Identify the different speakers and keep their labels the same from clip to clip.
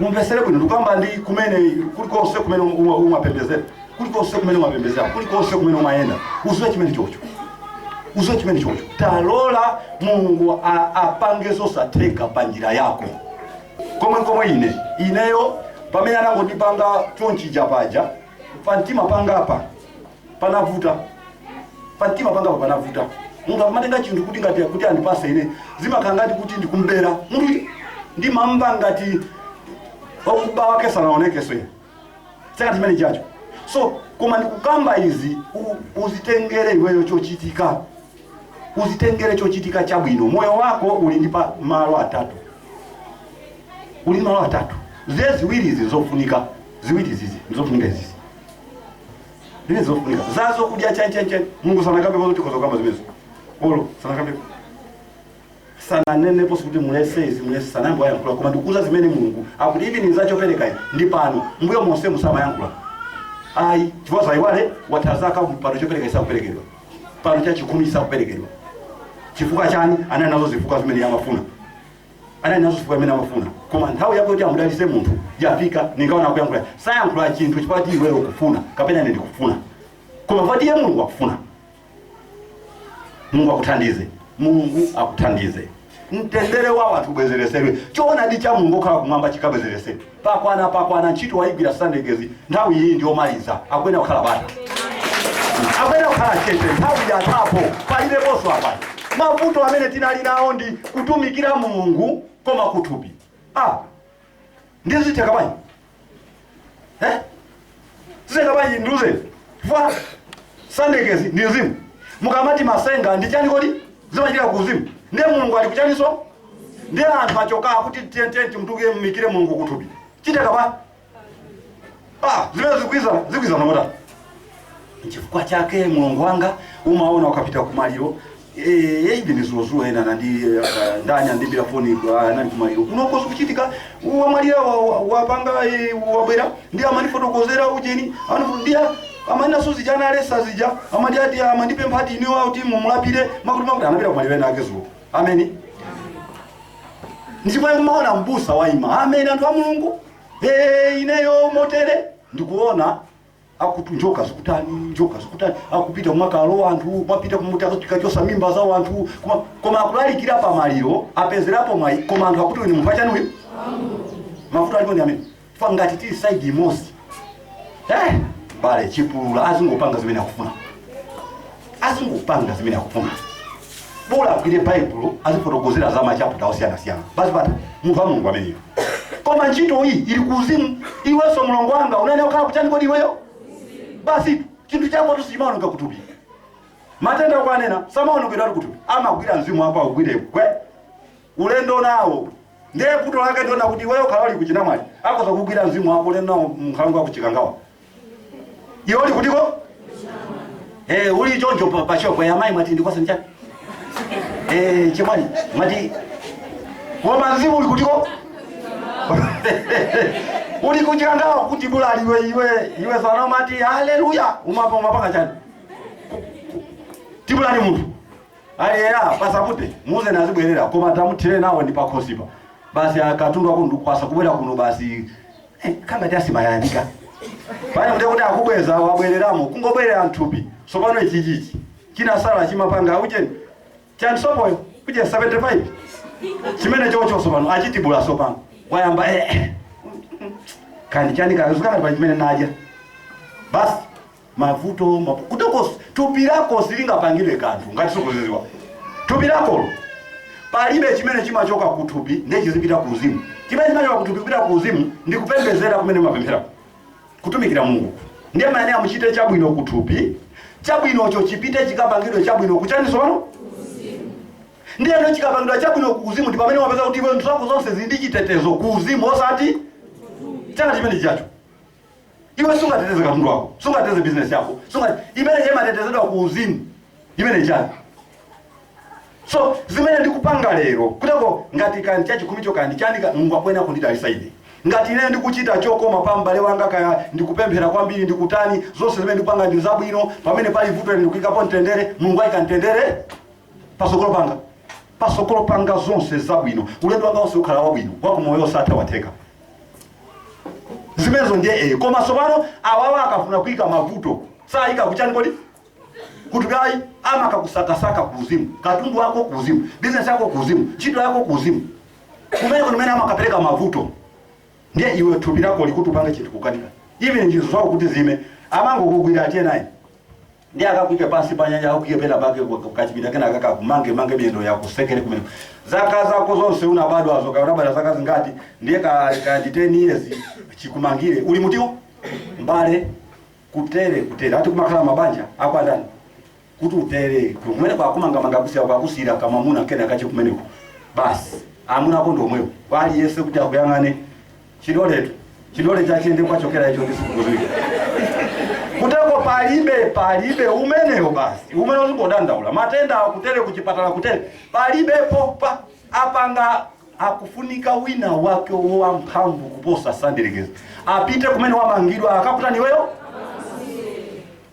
Speaker 1: umvesere bwino ndikukamba ndi iwe kulikonse kumene uma- umapembezera kulikonse kumene umapembezera kulikonse kumene umayenda uziwe chimene chocho uziwe chimene chocho talola mulungu a- apange zosatheka pa njira yako komwe komwe ine ineyo pamene anangondipanga chonchija paja pa mtima pangapa panavuta pa mtima pangapa panavuta munthu akamatenga chinthu kuti ngati kuti andipase ine zimakhala ngati kuti ndikumbera munthu ndimamva ngati wakuba wake sanaonekeso ine saka chimene chacho so koma ndikukamba izi u- uzitengere iweyo chochitika uzitengere chochitika chabwino moyo wako uli ndi pa malo atatu uli ndi malo atatu zi ziwiri izi zofunika ziwiri izizi ndizofunika izizi Zimene zofunika. Za zokudya chani chani chani. Mulungu sanakambe kuti tikhoza kukamba zimenezo. Olo sanakambe. Sananenepo kuti mulese izi mulese sanamboyankhula koma ndikuza zimene Mulungu akuti izi ndi zachopereka izi ndi pano. Mbuyo monse musamayankhula. Ayi, chifukwa zowerewa tazaka pano chopereka isakuperekedwa. Pano cha chikhumi isakuperekedwa. Chifukwa chani anali nazo zifukwa zimene amafuna. anali nazo zifukwa zimene amafuna koma nthawi yakuti amudalise munthu yafika ningaona akuyankhula sayankhula chinthu chifukwa ti iweyo ukufuna kapena ine ndikufuna koma chifukwa ti iye mulungu akufuna mulungu akuthandize mulungu akuthandize mtendere wa wanthu ubwezeresedwe choonadi cha mulungu okhala kumwamba chikabwezeresedwe Pakwana pakwana ntchito waigwira sandegezi nthawi iyi ndiyomaliza akuyenera kukhala bata akuyenera kukhala chete nthawi yathapo palibenso apa mavuto amene tinali nawo ndi kutumikira mulungu koma kuthupi ah nde zitheka bwanji eh? zitheka bwanji ndiuze chifukwa sandegezi ndi mzimu mukamati masenga ndi chani kodi zimachitika ku uzimu ndiye mulungu ali kuchaniso ndiye anthu achoka kuti tiyentiyeni timtumikire mulungu kuthupi chitheka bwanji ah zimene zikwiza zikwiza mamota chifukwa chake mulungu wanga umaona ukapita kumaliro Eh, ine ndi dzulo ena anandi eh, ndani anandiimbira foni eh, anali kumaliro kunoko zikuchitika wamwalira wa- wa- wapanga eh, wabwera ndi amandifotokozera ujeni Anu- ndiye amanena suzija analesa zija amati ati amandipempha ati iniwo akuti mumulapire makuti makuti anapita kumaliro ena ake dzulo ameni ndipo umaona mbusa waima ameni anthu a mulungu Eh, ineyo motere ndikuona akuti njoka zikutani njoka zikutani akupita kumakalowa anthu kumapita kumuti akachose mimba za wanthu kuma- koma akulalikira pa maliro apezerapo mwayi koma anthu akuti uyu ni munthu wachani uyu mavuto alipo ndi amene ife ngati tili saidi imodzi eh, pali chipulula azingopanga zimene akufuna azingopanga zimene akufuna bola agwire baibulo azifotokozera za machaputa osiyanasiyana basi patha munthu wa mulungu ameneyo koma ntchito iyi ili ku uzimu iwenso mlongo wanga unenera kukhala kuchani kodi iweyo basi chinthu chakotu sichimaoneka kuthupi matenda okwanena samaonekera kuthupi amagwira mzimu wako akugwire gwe ulendo nawo ndiye vuto lake ndiona kuti iweyo ukhala uli ku Chinamwali akoza kugwira mzimu wako ulendo nawo mkhalango ku Chikangawa iwe uli kutiko eh uli choncho pa, pa shop ya mai mwati ndikwasa mchani eh chimwani mwati koma mzimu uli kutiko uli ku Chikangawa kuti bulali iwe iwe iwe sana mati haleluya umapa umapanga chani tibulani munthu ali era pasapute muze nazibwerera koma tamuthire nawo ndi pakhosipa basi akatundu ako ndikwasa kubwera kuno basi He, kangati simayandika pale kuti kuti akubweza wabwereramo kungobwerera mthupi sopano ichi chichi chinasala chimapanga ujeni chani sopoyo uje 75 chimenechocho sopano achitibula sopano wayamba eh, eh. kani chani kazukati pa chimene naja basi mavuto ma, kutokos thupi lako silingapangire kanthu ngati sukudziwa thupi lakolo palibe chimene chimachoka ku thupi ndiye chizipita ku uzimu chimene chimachoka ku thupi kupita ku uzimu ndi kupembezera kumene mapemphera kutumikira mulungu ndiye mumayenera muchite chabwino ku thupi chabwinocho chipite chikapangidwe chabwino kuchani sono ku uzimu ndiyeno chikapangidwa chabwino ku uzimu ndi pamene wapeza kuti iwe zinthu zako zonse zili ndi chitetezo ku uzimu osati chani chimenechocho iwe sungateteze katundu wako sungateteze bizinesi yako sunga imene imatetezedwa ku uzimu imene chani so zimene ndikupanga lero kutako ngati kani chachikhumicho kani chani ka- mulungu akuyenera kundidalisa ine ngati ine ndikuchita chokoma pa m'bale wanga kaya ndikupemphera kwambiri ndikutani zonse zimene ndikupanga ndi zabwino pamene pali vuto ine ndikuyikapo mtendere mulungu ayika mtendere pasogolo panga pasogolo panga zonse zabwino ulendo wanga wonse ukhala wabwino wakumoyo osatha watheka zimenezo ndiye eyo koma tsopano awawa akafuna kuyika mavuto sayika kuchani kodi kuthupi ayi ama amakakusakasaka kuuzimu katundu wako kuuzimu bizinesi yako kuuzimu ntchito yako kuuzimu kumene kumene amakapereka mavuto ndiye iwe thupi lako likuti upange chinthu kukanika even nzeru zako kuti zime amangokugwira atiye naye Ndiye akakuike pansi pa nyanja, akakuike pena pake ku- ku- kachipinda kena kakakumange mange miyendo yako akutsekere kumeneko. Zaka zako zonse unabadwazo, kaya unabadwa zaka zingati, ndiye ka ka ndi 10 years chikumangire. Uli muntimo? Mbale kutere kutere. Ati kumakhala mabanja a kwa ndani? kuti utere kumene akumangamanga kusiya akusiira kamwamuna kena kache kumeneko basi amuna ako ndi omwewo kwa aliyense kuti akuyang'ane chidoletu chidole chachiyende kwachokera icho ndisikukuziwira kuteko palibe palibe umeneyo basi umene uzingodandaula matenda akutere kuchipatala kutere palibepo pa apanga akufunika wina wake wa mphamvu kuposa sandirekeza apite kumene wamangidwa akakutaye iweyo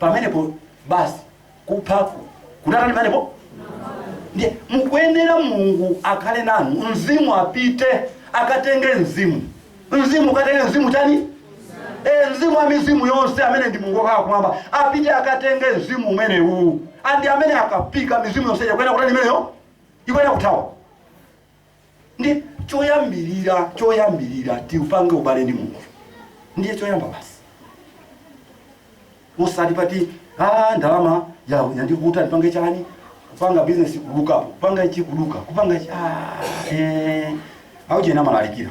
Speaker 1: pamenepo basi kuthako kunatani pamenepo ndiye mukuyenera mulungu akhale nanu mzimu apite akatenge mzimu mzimu ukatenge mzimu utani e, mzimu wa mizimu yonse amene ndi mulungu okhala kumwamba apite akatenge mzimu umenewu ndi amene akafika mizimu yonse ikuyenera kutani imeneyo ikuyenera kuthawa ndi choyambirira choyambirira tiupange ubale ndi mulungu ndiye choyamba basi osati muziti a ndalama ya yandivuta ndipange chani kupanga bizinesi kuluzapo kupanga ichi kuluza kupanga ichi ah, eh, awuchena amalalikira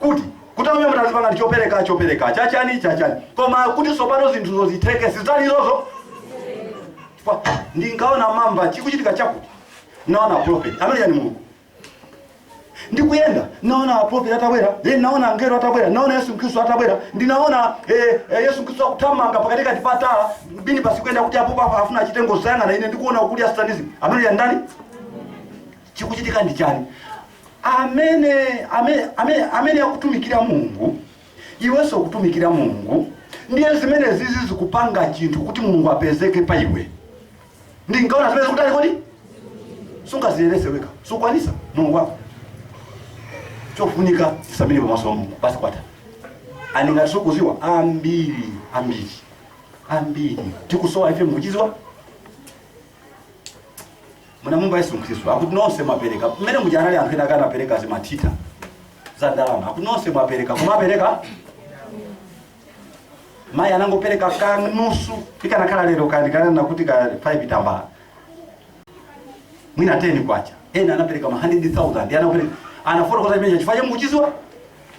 Speaker 1: kuti kuti amene mutazipanga ndi chopereka chopereka chachani chachani koma kuti tsopano zinthuzo zitheke sizili zozo Kwa- ndikaona mamba chikuchitika chakuti naona prophet ameneyo ndi mulungu ndikuyenda naona prophet atabwera eh, naona angelo atabwera naona yesu khristu atabwera ndinaona eh, eh, yesu khristu akuthamanga pakati kati pa tala minibasi ikuyenda kuti apo papa afuna achite ngozi zanga na ine ndikuona kuli a satanism ameneyo ndi ndani chikuchitika ndi chani amene amene amene amene akutumikira mulungu iwenso ukutumikira mulungu ndiye zimene zizo zikupanga chinthu kuti mulungu apezeke pa iwe ungaone zimene zikutali kodi sungaziyeretse wekha sukwanisa mulungu wako chofunika tisamire pamaso pa mulungu basi kwatha koma ngati sukuziwa ambiri ambiri ambiri tikusowa ife mukuchiziwa munamumva yesu khristu akuti nonse mwapereka mmene muja anali anthu ena akanapereka zimatsitha za ndalama akuti nonse mwapereka koma wapereka mayi amene anangopereka kanusu ikanakhala lero ndikananena kuti ka 5 tambala mwina 10 kwacha ena anapereka ma 100000 anapereka anafotokoza imene chifukwa chake mukuchiziwa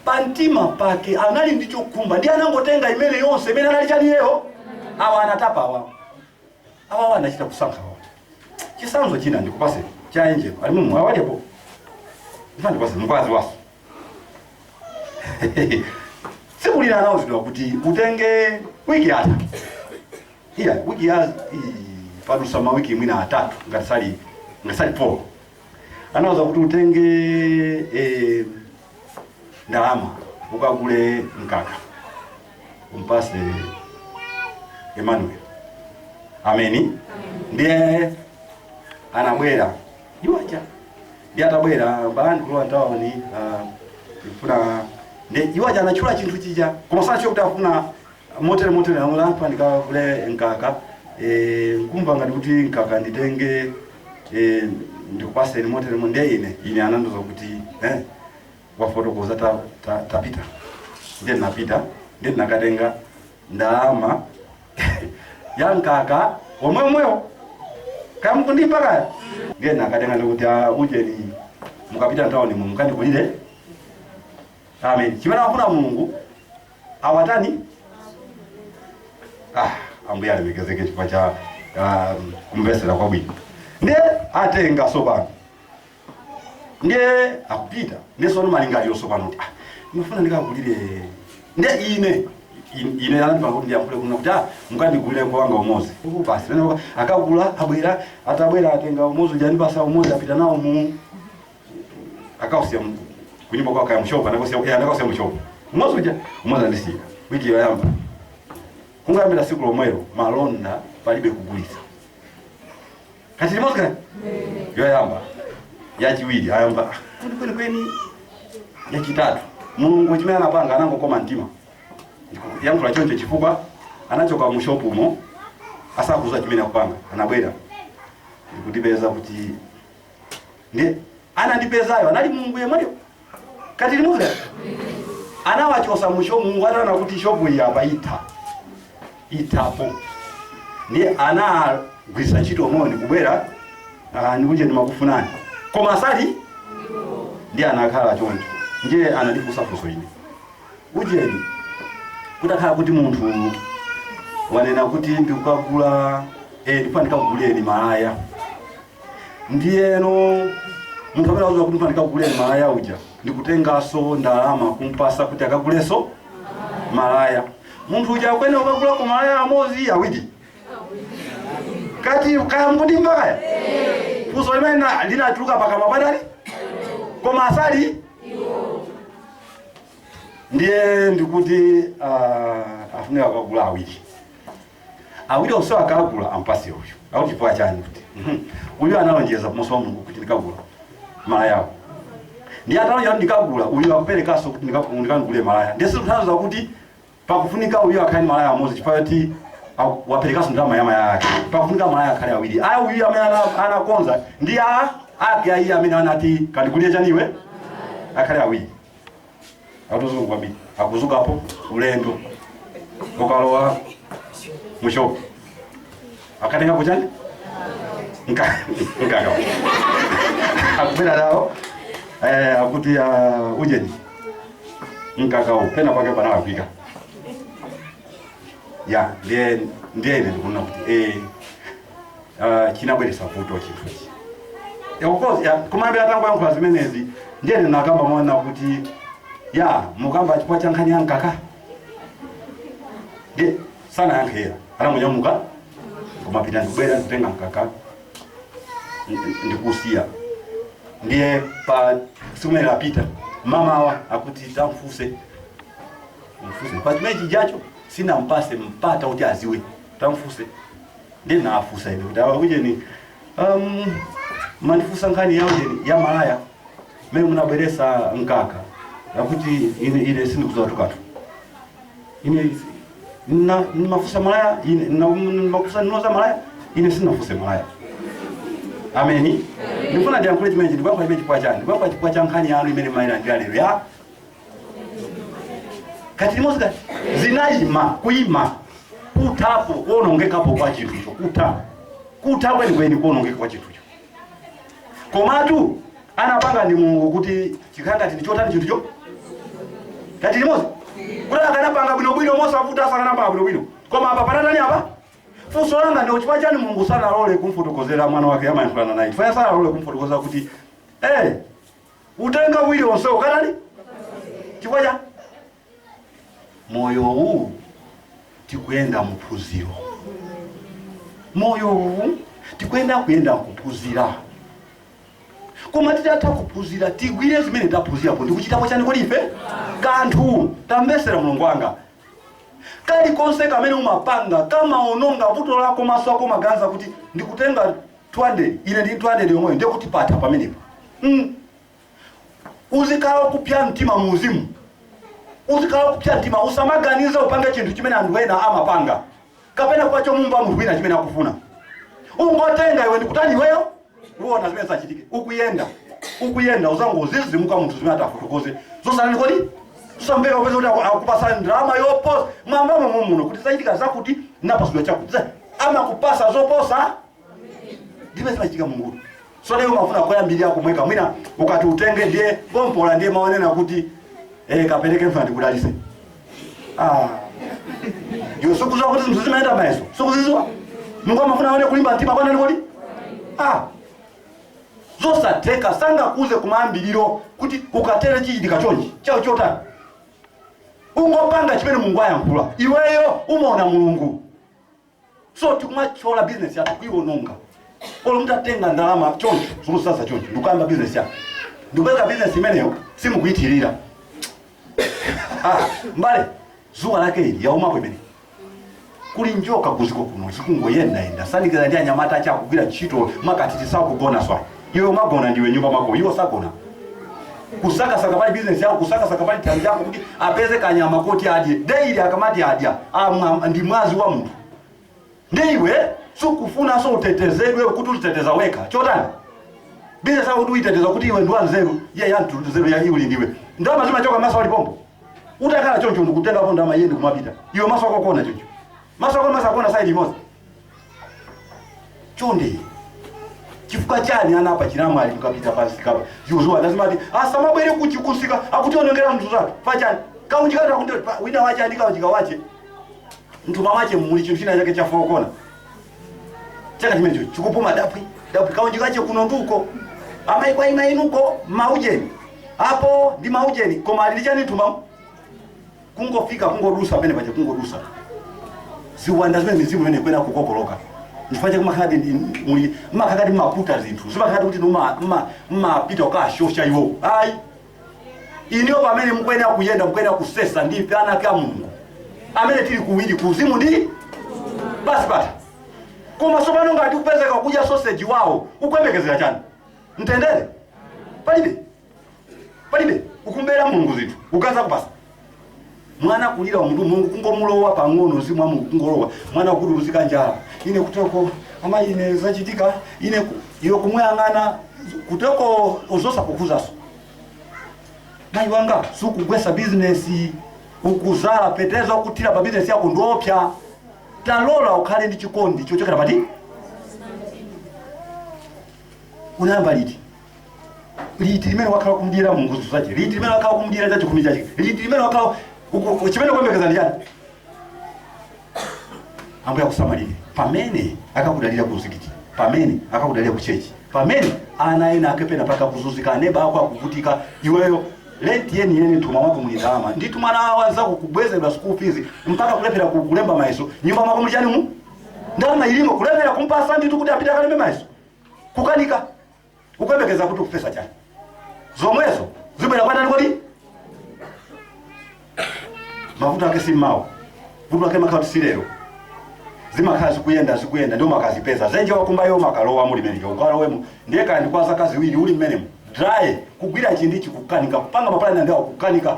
Speaker 1: pa mtima pake anali ndi chokhumba ndi anangotenga imene yonse imene anali nayo iyeyo awa anatapa awa awawa anachita kusankha wawo chisanzo china ndikupase cha angel ali mumu awalepo ndifuna ndikupase mkwazi uyuso tsiku lina anauzidwa kuti utenge wiki yatha iya wiki ya i- padusa mawiki mwina atatu ngati sali ngati sali folo anauzidwa kuti utenge eh, ndalama ukagule mkaka mpase emmanuel ameni ndiye anabwera iwacha ndiye atabwera balani kulowa ntawoni ah, ndifuna ndi iwacha anatchula chinthu chija koma sanatchula kuti afuna motere motere amula anthu ndikagule mkaka eh, nkumva ngati kuti mkaka nditenge eh, ndikupaseni motere mo- ndiye ine ine anandiuza kuti eh, wafotokoza ta, ta, tapita ndiye napita ndiye nakatenga ndalama ya mkaka womwemwewo kaya mukundimva kaya ndiye nakatenga ndikuti "Ah, ujeni mukapita ntawoni mu mukandigulire amen chimene afuna mulungu awatani ah, ambuye alemekezeke chifukwa cha ah, kumvesera kwabwino ndiye atenga sopano ndiye akupita ndiye sono malingaliro sopano kuti ah, ndifuna ndikagulire ndiye ine in- ine anandipanga kuti ndiyankhule kunena kuti ah, mukandigulire kuwanga umozi uku basi pene paka- akagula abwera atabwera atenga umozi uja ndipasa umozi apita nawo mu akausiya mu- kunyumba kwawo kaya mushopu anakausiya eh, anakausiya mushopu umozi uja umozi andisiya wiki yoyamba kungoyambira siku lomwelo malonda palibe kugulitsa kaya tili limodzi kaya yoyamba yachiwiri ayamba "Ah, kuti kwenikweni yachitatu mulungu chimene anapanga anangokoma mtima yankhula choncho chifukwa anachoka mu shopu umo asakudziwa chimene akupanga anabwera ndikundipeza kuti ndiye anandipezayo anali mulungu yemweyo kaya tili limodzi anawachosa mushopu mulungu ataona kuti shopu iyi apa itha ithapo ndiye anagwiritsa ntchito moni kubwera ah, ujeni ndimakufunani koma asali ndiye anakhala choncho ndiye anandifunsa funso ine ujeni kutakhala kuti munthu wanena kuti ndikukagula eh, ndifuna ndikakugulireni malaya ndiyeno munthu amene akuuza kuti ndikagule malaya uja ndikutengaso ndalama kumpasa kuti akaguleso malaya munthu uja akuyenera kukagulako malaya amodzi awiri kati kaya mukundimva kaya funso limene na- linatuluka pakamwa patali koma asali ndiye ndikuti ah, afunika kukagula awiri awiri onse akagula ampase uyu akuti chifukwa chani kuti mhm, uyu analonjeza pamaso pa mulungu kuti ndikagula malayawo ndiye atalonjeza kuti ndikagula uyu akuperekanso kuti ndikagu- ndikagule malaya ndiye sikutanthauza kuti pakufunika uyu akhale ndi malaya amodzi chifukwa choti aku- waperekanso ndalama ya malaya ake pakufunika malaya akhale awiri aya uyu amene ana- anakonza ndi a ake ayi amene anati kandigulire chaniwe akhale awiri atuzungu kwambiri akuzukapo ulendo ukalowa mushopu akatenga kuchani Nka- nkaka akupita nawo eh, akuti ah, ujeni mkakawo pena pake panawapika ya ndiye ndiye ine ndikuona kuti eh, uh, chinabweretsa vuto chinthu ichi Yeah, of course, yeah, komabe atangoyankhula zimenezi ndiye ndinakamba mwana kuti ya mukamba chifukwa cha nkhani ya mkaka ndiye sanayankhe kera anangonyamuka kumapita ndikubwera nditenga mkaka ndi- ndikusiya ndiye pa siku imene lapita mama awa akuti tamfuse mfuse pa chimayi chijacho sinampase mpata kuti aziwe tamfuse ndiye nawafunsa ine kuti awa ujeni um, munandifunsa nkhani ya ujeni ya malaya mmene munabweresa mkaka akuti ine ine sindikudziwatu katu ine na mafusa malaya ine na mafusa noza malaya ine sinafuse malaya ameni ndifuna ndiyankhule chimenechi ndikuyankha chimene chifukwa chani ndikuyankha chifukwa cha nkhani yanu imene mayilandira lero ya kathithi limodzi kati zinayima kuyima kuthapo kuonongekapo kwa chinthucho kutha kutha kwenikweni kuonongeka kwa chinthucho komatu anapanga ndi mulungu kuti chikhala ngati ndi chotani chinthucho kati limodzi kuti akanapanga bwinobwino mosavuta akanapanga bwinobwino koma apa panatani apa funso langa ndi chifukwa chani mulungu sanalole kumfotokozera mwana wake amayankhulana naye chifukwa sanalole kumfotokozera kuti eh kutenga uwiri onse ukatani chifukwa cha moyo uwu tikuyenda muphunziro moyo uwu tikuyenda kuyenda kuphunzira koma titatha kuphunzira tigwire zimene taphunzirapo ndikuchitapo chani kodi ife kanthu tamvesera mulungu wanga kalikonse kamene umapanga kamaononga vuto lako maso ako umaganiza kuti ndikutenga 200 ine ndili 200 yomweyo ndiye kuti patha pamenepo mm. uzikhala okupya mtima mu uzimu uzikhala okupya mtima usamaganize upange chinthu chimene anthu ena amapanga kapena kwacha umumva munthu wina chimene akufuna ungotenga iwe ndikutani iweyo uona zimene zachitike ukuyenda ukuyenda uzangodzidzimuka munthu zimene atafotokoze zosayenani kodi zosamveka upeza kuti aku- akupasa ndalama yoposa mwambamo mumuno kuti zachitika zakuti napasidwa chakuti Za- amakupasa zoposa ndibe zimachitika mulungu so lero mafuna koyambirira komweko mwina ukati utenge ndiye pompola ndiye maonena kuti eh kapereke mfuna ndikudalise ah iwe sukuziwa kuti zinthu zimayenda mayeso sukuziziwa mungu amafuna aone kulimba mtima kwa nani kodi ah zosatheka sangakuze kumayambiriro kuti ukatere chichitika chonchi chao chotani ungopanga chimene mulungu ayankhula iweyo umaona mulungu so tikumathyola business yathu kuiwononga olo mutatenga ndalama choncho zolusasa choncho ndikuyamba business yathu ndikupeza business imeneyo simukuithirira Ah, mbale zuwa lake ili yaumapo imene kuli njoka kuziko kuno zikungoyendayenda sandikira ndi anyamata ache akugwira ntchito makatiti sakugona swa iwe umagona ndiwe nyumba mwako iwo sagona kusakasaka pali bizinesi yako kusakasaka pali thanzi yako kuti apeze kanyama koti adye deili akamati adya amwa ndi mwazi wa munthu ndi iwe sukufunanso utetezedwe kuti uziteteza wekha chotani bizinesi yako kuti uyiteteza kuti iwe ndiwa nzeru iye ya mtundu nzeru ya iuli ndiwe ndalama zimachoka maso ali pompo utakhala choncho ndikutengapo ndalama iye ndikumapita iwe maso ako kuona choncho maso ako maso akuona saidi imodzi chonde chifukwa chani ana a pa chinamwali kukapita pansi kapa yuzuwa nazimati asamabwere kuchi kusika akutionongera mtu zake pachani kaunjika ta kuti pa- wina wache andika unjika wache mthumba mwache muli chinthu china chake chafokona chaka chimenecho chikupuma dapwi dapwi kaunjikache kuno nduko amayi kwa ina inuko maujeni apo ndi maujeni koma ali ndi chani mthumbamo kungofika kungodusa pamene paja kungodusa ziwanda zimene mizimu imene ikuyenda kukokoloka chifukwa chake makhaladi ndi- muli makhaladi mmaputa zinthu zimakhaladi kuti numa- mma- mmapita kukashosha iwo ayi inuyo pamene mukuyenera kuyenda mukuyenera kusesa ndi ife ana ake a mulungu amene tili kuwiri kuuzimu ndi basi bata koma tsopano ngati ukupezeka kudya soseji wawo ukuyembekezera chani mtendere palibe palibe ukumbera mulungu zinthu ukaza kupasa mwana kulira munthu mulungu kungomulowa pang'ono mzimu wa mulungu kungolowa mwana kuti uzika njala ine kutoko ama ine zachitika ine ku- iwe kumuyang'ana kutoko zosakukhuzanso mayi wanga sukugwesa bizinesi ukuzala peteza ukuthira pa bizinesi yako ndiopsa talola ukhale ndi chikondi chochokera pati unayamba liti liti limene wakhala kumdyera Mulungu zinthu zace liti limene wakhala kumdyera cacikhumi cace liti limene wakhala uku- cimene ukuyembekeza ndi ciani ambuye akusamalire pamene akakudalira ku mzikiti pamene akakudalira ku chechi pamene ana ena ake pena mpaka kuzunzika aneba ako akuvutika iweyo lenti yeni yeni mthumba mwako muli ndalama nditu mwana wa anzako kubwezeredwa school fees mpaka kulephera ku- kulemba mayeso mnyumba mwako muli chani mu ndalama ilimo kulephera kumpatsa nditu kuti apite akalembe mayeso kukanika ukuyembekeza kuti ukufesa chani zomwezo zibwera kwa ndaninso kodi mavuto ake si mmawa vuto ake makhala si lero zimakhala zikuyenda zikuyenda ndiye umakadzipeza dzenje wakumbalo umakalowamo uli mmenemo ukalowemo ndiye kaya ndi kwa zaka ziwiri uli mmenemo dry kugwira chinthu ichi kukanika kupanga mapulani awa kukanika